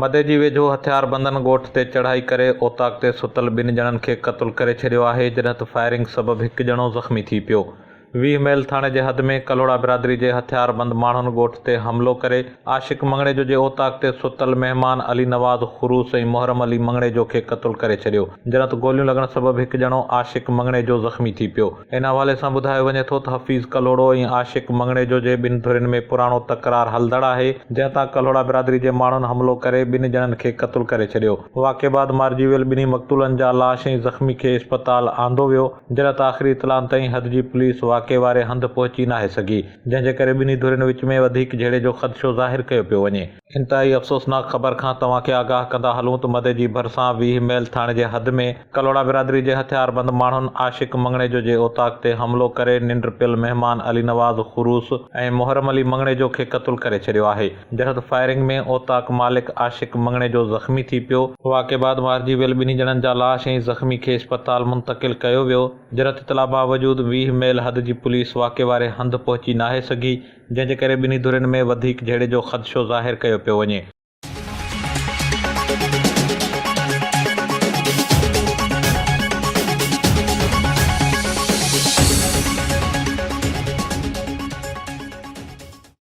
مدي جي ويجهو هٿياربندن ڳوٺ تي چڙهائي ڪري اوطاق تي ستل ٻن ڄڻن کي قتل ڪري ڇڏيو آهي، جڏهن ته فائرنگ سبب هڪ ڄڻو زخمي ٿي پيو. ويهه ميل ٿاڻي جي حد ۾ ڪلهوڙا برادري جي هٿياربند ماڻهن ڳوٺ تي حملو ڪري عاشق مڱڻيجو جي اوطاق تي ستل مهمان علي نواز خروس ۽ محرم علي مڱڻيجو کي قتل ڪري ڇڏيو جنت گوليون لڳڻ سبب هڪ ڄڻو عاشق مڱڻيجو زخمي ٿي پيو ان حوالي سان ٻڌايو وڃي ٿو ته حفيظ ڪلهوڙو ۽ عاشق مڱڻيجو جي ٻن ڌرين ۾ پراڻو تڪرار هلندڙ آهي جنهن تان ڪلهوڙا برادري جي ماڻهن حملو ڪري ٻن ڄڻن کي قتل ڪري ڇڏيو واقعي بعد مارجي ويل ٻنهي مقتولن جا لاش ۽ زخمي کي اسپتال آندو ويو جڏهن ته آخري اطلاعن تائين حد جي پوليس واقعي واري هنڌ پهچي ناهي سگهي، جنهن جي ڪري ٻنهي ڌرين وچ ۾ وڌيڪ جهيڙي جو خدشو ظاهر ڪيو پيو وڃي. انتهائي افسوسناڪ خبر کان توهان کي آگاهه ڪندا هلون ته مدي جي ڀرسان ويهه ميل ٿاڻي جي حد ۾ ڪلهوڙا برادري جي هٿياربند ماڻهن عاشق مڱڻيجو جي اوطاق تي حملو ڪري ننڊ پيل مهمان علي نواز خروس ۽ محرم علي مڱڻيجو کي قتل ڪري ڇڏيو آهي. جهد فائرنگ ۾ اوطاق مالڪ عاشق مڱڻيجو زخمي ٿي پيو. واقعي بعد مارجي ويل ٻنهي ڄڻن جا لاش ۽ زخمي کي اسپتال منتقل ڪيو ويو. جرحت اطلاع باوجود ويهه ميل حد جي پوليس واقعي واري هنڌ پهچي ناهي سگهي، جنهن جي ڪري ٻنهي ڌرين ۾ وڌيڪ جهيڙي جو خدشو ظاهر ڪيو پيو وڃي.